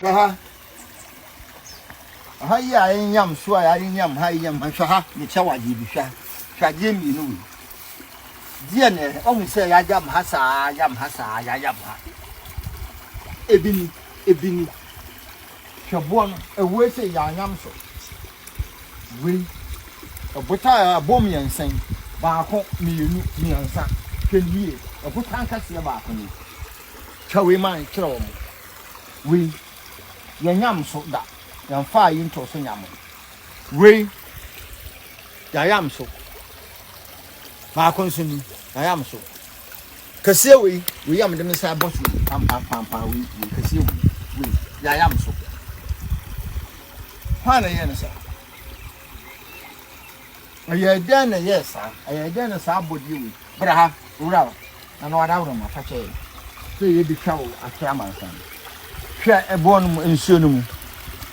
Hwɛ ha. Ɔha yi a ɛnyam so a yɛare nyam ha yi nyam ha. Hwɛ ha, mekyɛ wo adeɛ bi. Hwɛ ha. Hwɛ adeɛ mmienu wei. Deɛ na ɛhɛ. Ɔhu sɛ yɛayam ha saa, yam ha saa, yɛayam ha. Ebi ni, ebi ni. Hwɛ boɔ no, ɛwue sɛ yɛanyam so. Wei, ɛbotan a ɛbɔ mmiɛnsa yi, baako, mmienu, mmiɛnsa. Hwɛ no yie, ɛbotan kɛseɛ baako ni. Twa wei ma nkyerɛ wɔn. Wei, yɛnnyam so da, yɛmfaa yi ntoo so nyamee. Wei, yɛayam so. Baako nso ni, yɛayam so. Kɛseɛ wei, wei a mede me nsa bɔ so wei, pampampampaa wei, wei, kɛseɛ wei, wei, yɛayam so. Hwan na ɛyɛɛ no saa? Ɛyɛɛ dɛn na ɛyɛɛ saa? Ɛyɛɛ dɛn na saa abɔdeɛ wei? Bra ha, wura hɔ. Na na ɔda woroma, fa kyɛ yɛn. Sɛ yɛbɛtwa wo akyerɛ amansan no, hwɛ ɛboɔ no mu, nsuo no mu.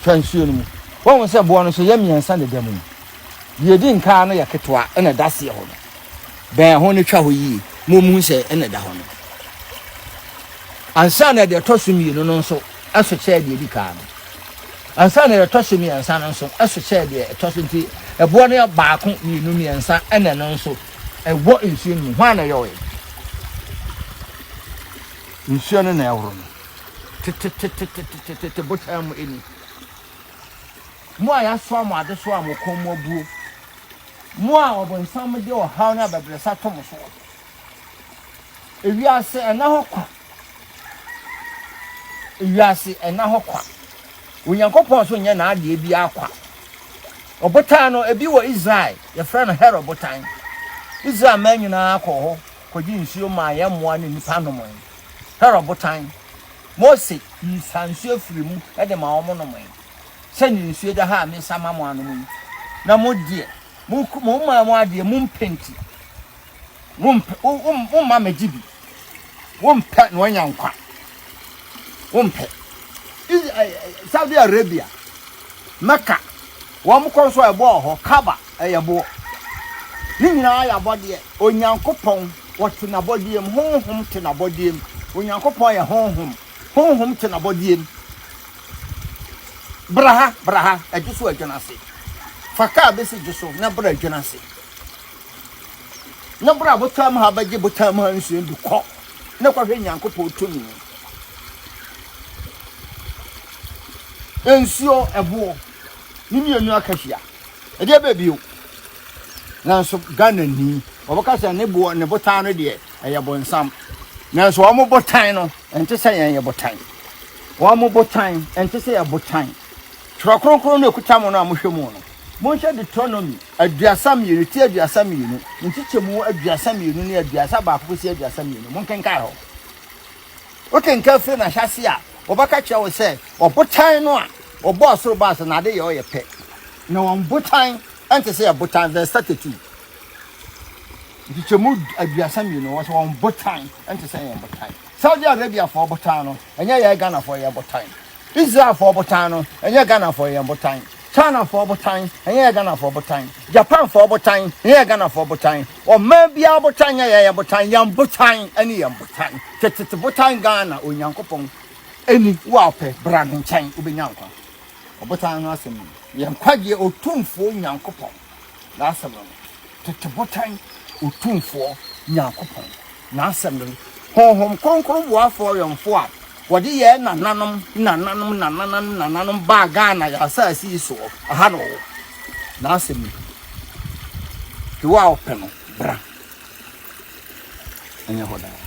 Hwɛ nsuo no mu. Wɔhu sɛ boɔ no so yɛ mmiɛnsa na ɛda mu. Deɛ ɛdi nkaa no yɛ ketewa ɛna ɛda aseɛ hɔ no. Bɛn ho no twa hɔ yie ma wɔhu sɛ ɛna ɛda hɔ no. Ansa na deɛ ɛtɔ so mmienu no nso so kyɛɛ deɛ ɛdi kan no, ansa na deɛ ɛtɔ so mmiɛnsa no nso so kyɛɛ deɛ ɛtɔ so. Enti ɛboɔ no yɛ baako, mmienu, mmiɛnsa, ɛna ɛno nso ɛwɔ nsuo no mu. Hwan na ɛyɔeɛ? Nsuo no na ɛhoro no tetetetetetete, botan mu ani. Mo a yɛasoa mo adesoa a mo kɔn mu abuo, mo a ɔbonsam de ɔhaw ne abɛbrɛsɛ ato mo soɔ. Ewiase, ɛnna hɔ kwa, Wiase nna hɔ kwa. Onyankopɔn nso nyɛ n'adeɛ biara kwa. Ɔbotan no, ebi wɔ Israel, yɛfrɛ no Herod botan. Israel mmaa nyinaa kɔɔ hɔ kɔgye nsuo maa yɛn mmoa ne nnipa nomee. Herod botan. Mose sa nsuo firii mu de ma wɔn nomee. Sɛdeɛ nsuo da ha a mesa ma mo anom yi, na mo deɛ, mo, mo mmaa mu adeɛ, mompenti. womma megye bi wompɛ na wanya nkwa wompɛ saudi arabia mɛka wɔn kɔ nso ɛboɔ hɔ kaba ɛyɛ boɔ ne nyinaa yɛ abɔdeɛ onyankopɔn wɔte n'abɔdeɛ mu honhom te n'abɔdeɛ mu onyankopɔn yɛ honhom honhom te n'abɔdeɛ mu braha braha ɛgye so adwene ase fa kaa bɛsi gye so na bra adwene ase Na bere a botan mu ha bɛgye botan mu ha nsuo de kɔ na kɔhwɛ Nyankopɔn tumi. Nsuo, ɛboɔ, ne mmienu aka hyia. Ɛdeɛ bɛɛ bio. Nanso Ghana ni, wɔbɛka sɛ ne boɔ ne botan no deɛ ɛyɛ bonsam. Nanso wɔn botan no, ɛnte sɛ yɛn yɛ botan. Wɔn botan, ɛnte sɛ yɛ botan. Twerɛ Kronkron no ɛkuta mo no a mohwɛ mu no, monhwɛ Deuteronomy aduasa mmienu, ti aduasa mmienu, nkyekyɛmu aduasa mmienu ne aduasa baako kɔsi aduasa mmienu, monkenkan hɔ. Wokenkan firi n'ahyɛase a, wɔbɛka kyerɛ wo sɛ ɔbotan no a ɔbɔɔ soro baa so n'ade yɛ ɔyɛ pɛ, na wɔn botan ɛnte sɛ yɛ botan, verse 32. Nkyekyɛmu aduasa mmienu, wɔ sɛ wɔn botan ɛnte sɛ yɛn botan. Saudi Arabiafoɔ botan no, ɛnyɛ yɛ Ghanafoɔ yɛ botan. Israelfoɔ botan no, ɛnyɛ Ghanafoɔ yɛn botan. Chinafoɔ botan, ɛnyɛ yɛn Ghanafoɔ botan. Japanfoɔ botan, ɛnyɛ yɛn Ghanafoɔ botan. Ɔman biara botan nyɛ yɛn botan. Yɛn botan ne yɛn botan. Tetete botan Ghana, Onyankopɔn ni, wo a wopɛ, bra ne nkyɛn, wobɛnya nkwa. Ɔbotan no asɛm no, yɛn nkwagyeɛ Otumfoɔ Nyankopɔn n'asɛm no. Tete botan Otumfoɔ Nyankopɔn. N'asɛm no, Honhom Kronkron boafo ɔwɛmfo a wɔde yɛɛ nananom nananom nananom nananom baa Ghana yɛn asase yi soɔ, ɛha na ɔwɔ. N'asɛm no, Hwɛ wo a wopɛ no, bra. Ɛnyɛ hɔ daa.